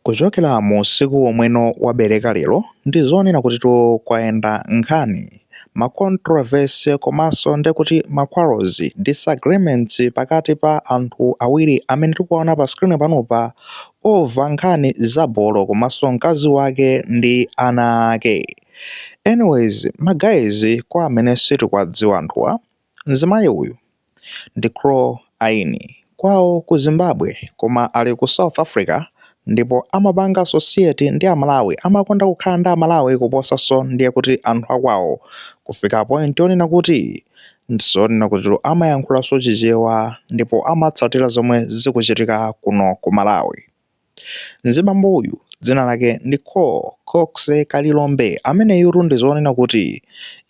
Kuchokera mu usiku omweno wabereka lero ndi zonena kutitu kwayenda nkhani ma controversy komanso nde kuti ma quarrels, disagreements pakati pa anthu awiri amene tikuwaona pa screen panopa over nkhani za bolo komanso mkazi wake ndi ana ake. Anyways my guys kwa amene sitikwadziwa anthuwa, Mzimayi uyu ndi Chloe Aini kwawo ku Zimbabwe koma ali ku South Africa ndipo amapanga associate ndi amalawi amakonda kukhala ndi amalawi kuposanso ndiye kuti anthu akwawo kufika point yonena kuti ndizonena kutitu amayankhulanso chichewa ndipo amatsatira zomwe zikuchitika kuno ku Malawi. Mzibambo uyu dzina lake ndi Kho Cox Kalilombe ameneyutu ndi zonena kuti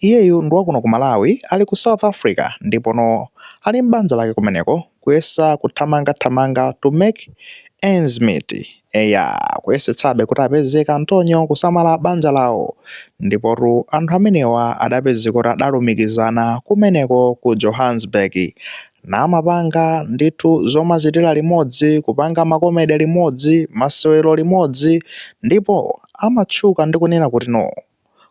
iyeyu ndi wakuno ku Malawi ali ku South Africa ndipono ali m'banja lake kumeneko kuyesa kuthamanga thamanga to make ends meet eya kuyesetsabe kuti apeze kantonyo kusamala banja lawo ndipotu anthu amenewa adapezeka kuti adalumikizana kumeneko ku Johannesburg namapanga ndithu zomachitira limodzi, kupanga makomedi limodzi, masewero limodzi, ndipo amatchuka ndi kunena kuti no.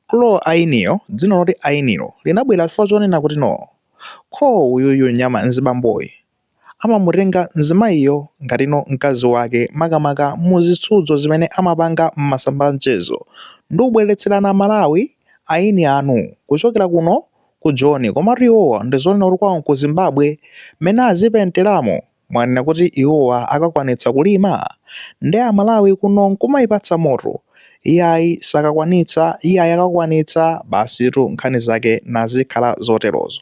Chloe Ainiyo, dzina loti Ainilo linabwera chifukwa chonena kuti no. Kho uyuyu nyama mzibamboyi amamutenga mzimayiyo ngati no mkazi wake makamaka mu zitsudzo zimene amapanga m'masamba a mchezo ndi kubweretserana Malawi aini anu kuchokera kuno Ku Joni, komatu iwowa ndi zonena kuti kwawo ku Zimbabwe, mmene azipenteramo? Mwanena kuti iwowa akakwanitsa kulima? Ndi a Malawi kuno n'kumayipatsa moto? Iyayi sakakwanitsa, iyayi akakwanitsa, basitu nkhani zake nazikhala zoterozo.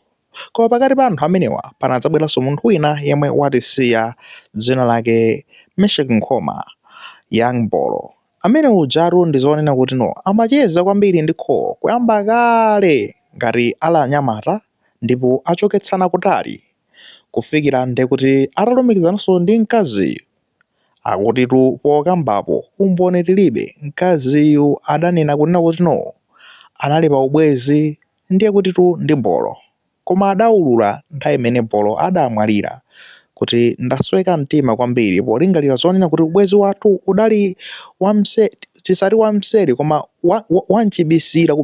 Koma pakati pa anthu amenewa panadzabweranso munthu wina yemwe watisiya dzina lake Mesheck Nkhoma, Young Bolo. Amene ujatu ndi zonena kuti no amacheza kwambiri ndi Kho kuyamba kale ngati ali anyamata ndipo achoketsana kutali kufikira ndekuti atalumikizananso ndi mkaziyu akutitu pokambapo umboni tilibe mkaziyu adanena kunena kuti no anali pa ubwezi ndiye kutitu ndi Bolo. Koma adaulula nthawi imene Bolo adamwalira kuti, Ndasweka mtima kwambiri polingalira zonena kuti ubwezi wathu udali tisati wamseri koma wam'chibisira,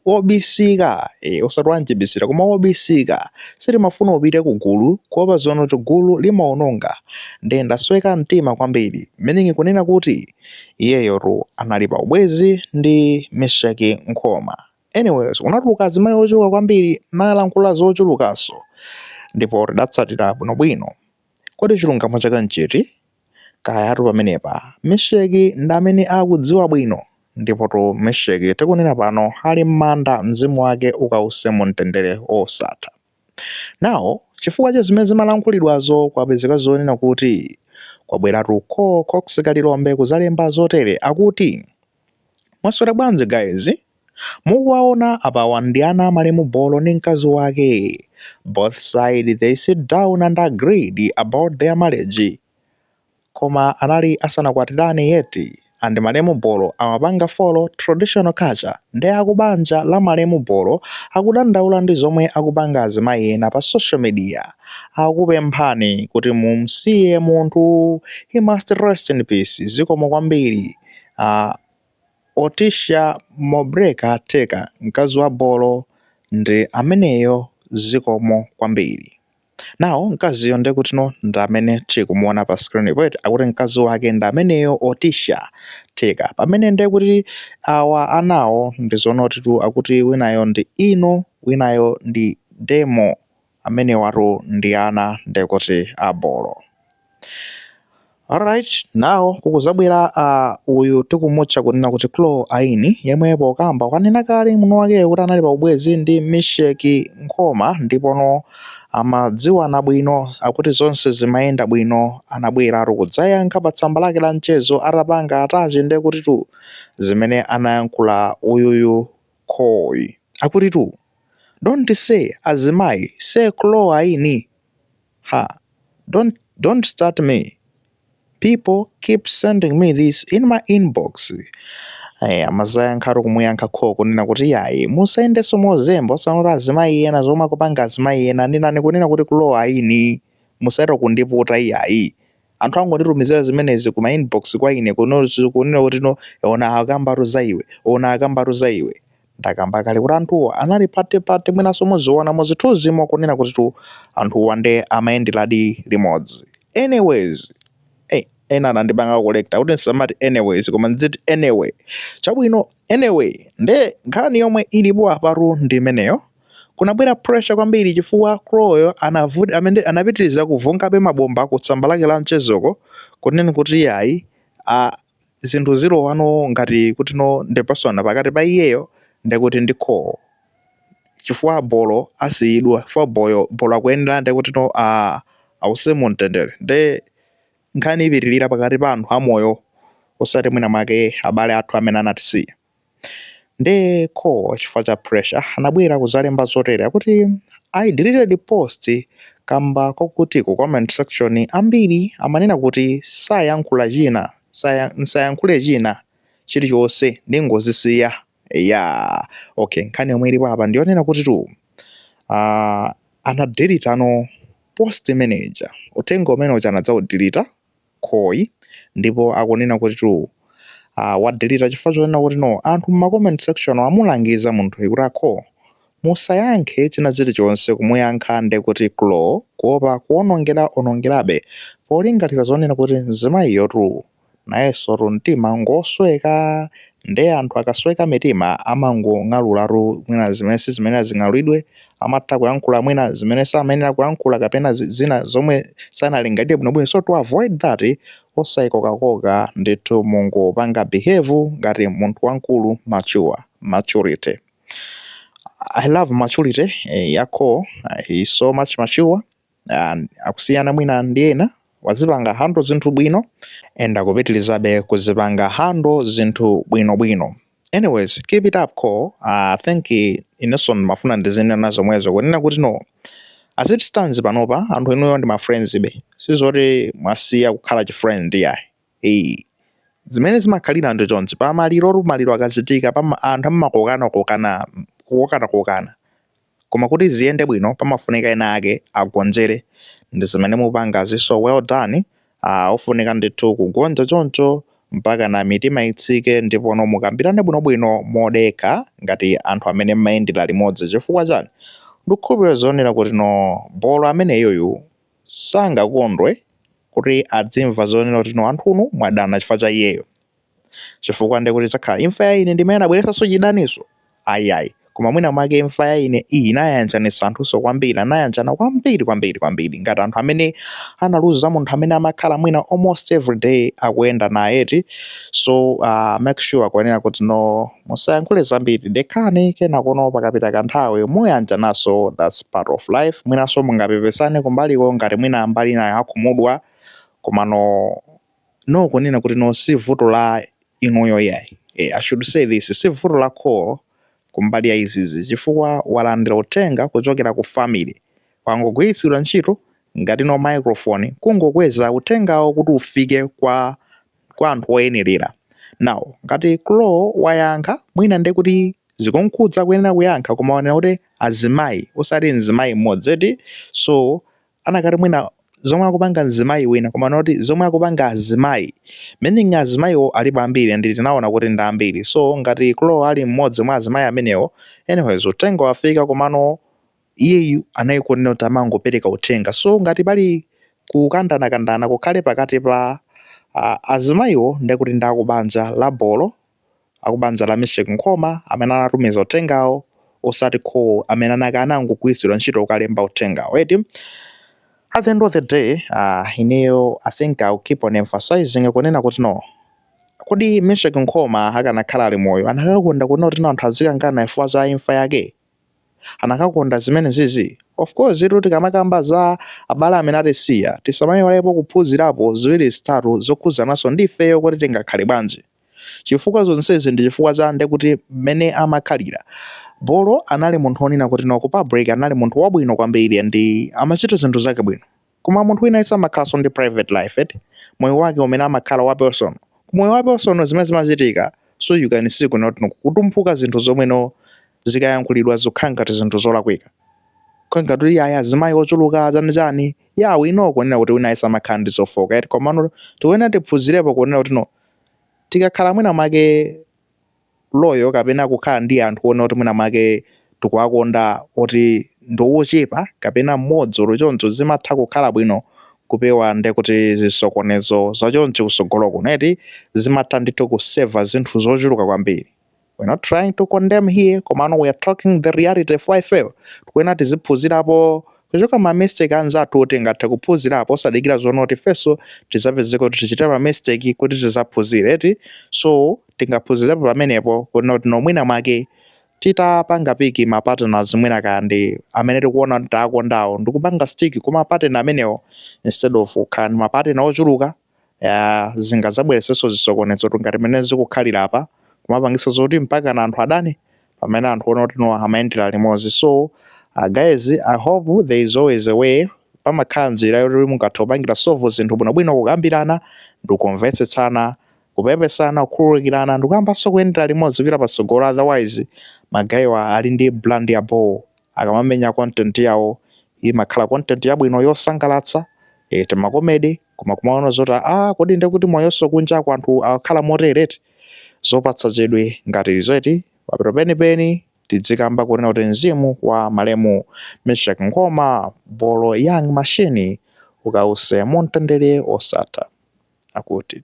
wobisika, ee, osati wam'chibisira koma wobisika. Sitimafuna upite kugulu kuopa zonoti gulu limaononga. Ndiye ndasweka mtima kwambiri, meaning kunena kuti iyeyotu anali pa ubwezi ndi Meshack Nkhoma. Anyways, kunatuluka azimayi ochuluka kwambiri nalankhula zochulukanso ndipo tidatsatira bwinobwino. Kodi chilungamo chake nchiti? Kayatu pamenepa Mesheki ndi amene akudziwa bwino. Ndipotu Mesheki tikunena pano ali m'manda, mzimu wake ukause mumtendere wosatha. Now, chifukwa cha zimene zimalankhulidwazo kwapezeka zonena kuti kwabweratu Col Cox Kalilombe kudzalemba zotere, akuti. Mwaswera bwanji guys? Mukuwaona apawa ndi ana a malemu Bolo ndi mkazi wake. Both side they sit down and agreed about their marriage. Koma anali asanakwatirane yet and malemu Bolo amapanga follow traditional culture nde akubanja la malemu Bolo akudandaula ndi zomwe akupanga azimayi ena pa social media. Akupemphani kuti mumsiye munthu. He must rest in peace. Zikomo kwambiri. A Otisha Mobreka Teka mkazi wa Bolo ndi ameneyo zikomo kwambiri. Now mkaziyo ndekuti no ndi amene tikumuona pa screen po eti akuti mkazi wake ndi ameneyo Otisha Teka pamene ndekuti awa anawo ndi zoonaditu akuti winayo ndi Ino winayo ndi Demo amenewatu ndi ana ndekuti a Bolo alright now kukuzabwera uh, uyu tikumutcha kunena kuti Chloe Aini yemwe pokamba kwanena kale muno wakeyo kuti anali pa ubwenzi ndi Mesheki Nkhoma ndipo no amadziwana bwino akuti zonse zimayenda bwino anabweratu kudzayankha pa tsamba lake la mchezo atapanga attach nde kuti tu zimene anayankhula uyuyu Chloe akuti tu don't say azimayi say Chloe Aini ha don't don't start me people keep sending me this in my inbox Eh, amazayankhatu kumuyankha kho kunena kuti yayi musayendenso mozemba osanoti azimayi ena zomwe akupanga azimayi ena nenani kunena kuti Chloe Aini musayese kundiputa iyayi Anthu angonditumizira zimenezi kuma inbox kwa ine kuno zi- kunena kuti no ona akambatu za iwe, ona akambatu za iwe. Ndakamba kale kuti anthuwo anali pati pati mwinanso muziona muzithunzimo kunena kuti tu anthuwa nde amayenderadi limodzi. Anyways, eh ena anandipanga correct kuti ndisamati anyways koma ndziti anyway. Chabwino anyway nde nkhani yomwe ilipo apatu ndi imeneyo. Kunabwera pressure kwambiri chifukwa Chloe yo anavut amene anapitiriza kuvungabe mabomba ku tsamba lake la mchezoko kunena kuti yayi a zinthu zilowa no ngati kuti no ndi personal pakati pa iyeyo ndekuti ndi Kho chifukwa bolo asiyidwa chifukwa boyo bolo akuyenera ndekuti no a awuse mu mtendere nde nkhani ipitirira pakati pa anthu amoyo osati mwina mwake abale athu amene anatisiya. nde Khloe chifukwa cha pressure anabwera kuzalemba zotere kuti i deleted the post kamba kokuti ku comment section ambiri amanena kuti sayankhula china saya, msayankhule china chilichonse mungozisiya ya okay nkhani yomwe ilipo apa ndiyonena kuti tu uh, anadelete no post manager uthenga umene uja anadzaudelete Khloe ndipo akunena kuti tu uh, wadelita chifukwa chonena kuti no anthu mma comment section amulangiza munthuyi kuti Khloe musayankhe china chilichonse kumuyankha nde kuti Khloe kuopa kuonongera onongerabe polingalira zonena kuti mzimayiyo tu nayenso tu mtima ngosweka nde anthu akasweka mitima amangong'aluratu mwina zimene sizimene zing'alulidwe amatha kuyankhula mwina zimene samayenera kuyankhula kapena zina zomwe sanalingalire bwinobwino so to avoid that osayikokakoka ndithu mungopanga behave ngati munthu wamkulu mature maturity I love maturity ya Khloe he is so much mature uh, akusiyana mwina ndi ena wazipanga hando zinthu bwino and akupitilizabe kuzipanga hando zinthu bwinobwino anyways keep it up Khloe i think inenso ndimafuna ndizinena zomwezo kunena kuti no as it stands panopa anthu inuyo ndi mafriendsbe sizoti mwasiya kukhala chifriend yayi. zimene zimakhalira ndi chonchi pa maliro oru maliro akachitikapa anthu amakokana kokana kokana kokana Koma kuti ziyende bwino pamafunika ena ake agonjere ndizimene mupangazi so well done aah ofunika ndithu kugonja choncho mpakana mitima itsike ndipono mukambirane bwinobwino modekha ngati anthu amene mmayendera limodzi chifukwa chani ndikukhulupilira zonena kuti no bolo ameneyuyu sangakondwe kuti adzimva zonena kuti no anthunu mwadana chifukwa cha iyeyo. chifukwa ndiye kuti idzakhala imfa ya ine ndimene anabweretsanso chidaniso ayiayi koma mwina mwake imfa ya ine iyi inayanjanitsa anthunso kwambiri anayanjana kwambiri kwambiri kwambiri ngati anthu amene analuza munthu amene amakhala mwina almost every day akuyenda naye eti so uh, make sure kunena kuti no musayankhule zambiri dekhani kenakono pakapita kanthawi muyanjanaso thats part of life mwinaso mungapepesane kumbaliko ngati mwina mbali inayo akhumudwa komano no kunena kuti no si vuto la inuyo yayi e, i should say this si vuto la Khloe kumbali ya izizi chifukwa walandira uthenga kuchokera ku family wangogwiritsidwa ntchito ngati no microphone kungokweza uthengawo kuti ufike kwa kwa anthu oyenerera now ngati Khloe wayankha mwina nde kuti zikumkhudza kuyenera kuyankha koma wanena kuti azimayi osati mzimayi mmodzi eti so anakati mwina zomwe akupanga mzimayi wina koma noti zomwe akupanga azimayi meaning azimayiwo alipo ambiri and tinaona kuti ndi ambiri so ngati Chloe ali mmodzi mwa azimayi amenewo anyways uthenga wafika komano iyeyu anayikonenera kuti amangopereka uthenga so ngati pali kukandanakandana kukhale pakati pa ah, azimayiwo ndekuti ndi akubanja la bolo akubanja la Misheck Nkhoma amene anatumiza uthengawo osati Chloe amene anangogwiritsidwa ntchito ukalemba uthengawo eti at the end of the day uh, ineyo i think ill keep on emphasizing kunena kuti no kodi Misheck Nkhoma akanakhala ali moyo anakakonda kunena kuti no anthu azikangana chifukwa za imfa yake anakakonda zimenezizi of course kuti tikamakamba za abale amene atisiya tisamayiwalepo kuphunzirapo ziwiri zitatu zokhuzananso ndi ifeyo kuti tingakhale bwanji chifukwa zonsezi ndi chifukwa cha nde kuti mmene amakhalira bolo anali munthu onena kuti no ku public anali munthu wabwino kwambiri ndi amachita zinthu zake bwino koma munthu wina yese amakhalanso ndi private life eti moyo wake umene amakhala wa personal kumoyo wa personal zimene zimachitika so you can see kunena kuti kutumphuka zinthu zomwe no zikayankhulidwa zikukhala ngati zinthu zolakwika kukhala ngati kuti yaya azimayi ochuluka chani chani ya wina ukunena kuti wina yese amakhala ndi zofoka eti komano tikuyenera tiphunzirepo kunena kuti no Tikakhala mwina mwake loyo kapena kukhala ndi anthu onena kuti mwina mwake tikuwakonda oti ndi ochepa kapena mmodzi olo choncho zimatha kukhala bwino kupewa nde kuti zisokonezo zachoncho kusogolo kuno eti zimatha ndithu kuseva zinthu zochuluka kwambiri. we're not trying to condemn here komano we're talking the reality chifukwa ifeyo tikuena tiziphunzirapo kuchoka ma mistake anzathu oti tingathe kuphunzirapo osadikira zonena kuti ifenso tizapezeka kuti tichita ma mistake kuti tizaphunzire eti so tingaphunzirepo pamenepo kunena kuti no mwina mwake titapanga piki ma partners mwina kaya ndi amene tikuona kuti taakondawo ndikupanga stick kuma partner amenewo instead of kukhala ndi ma partner ochuluka ya zingadzabweresenso zisokonezo ngati mmene zikukhalira apa kumapangisa zoti mpaka na anthu adani pamene anthu onena kuti no amayendera limodzi so uh, guys i hope there is always a way pamakhala nzira yoti mungathe kupangira solve zinthu bwinobwino kukambirana ndikumvetsetsana kupepesana kukhululukirana ndikuyambanso kuyendera limodzi kupita patsogolo otherwise magayiwa ali ndi brand ya bho akamamenya content yawo imakhala content yabwino yosangalatsa eh, timakomedi koma kumaona zoti a kodi ndekuti moyonso kunjaku anthu akhala motere eti zopatsa chidwi ngati izo eti pamapeto penipeni tidzikamba kunena kuti mzimu wa malemu Misheck Nkhoma bolo young machine ukawuse mumtendere osatha akuti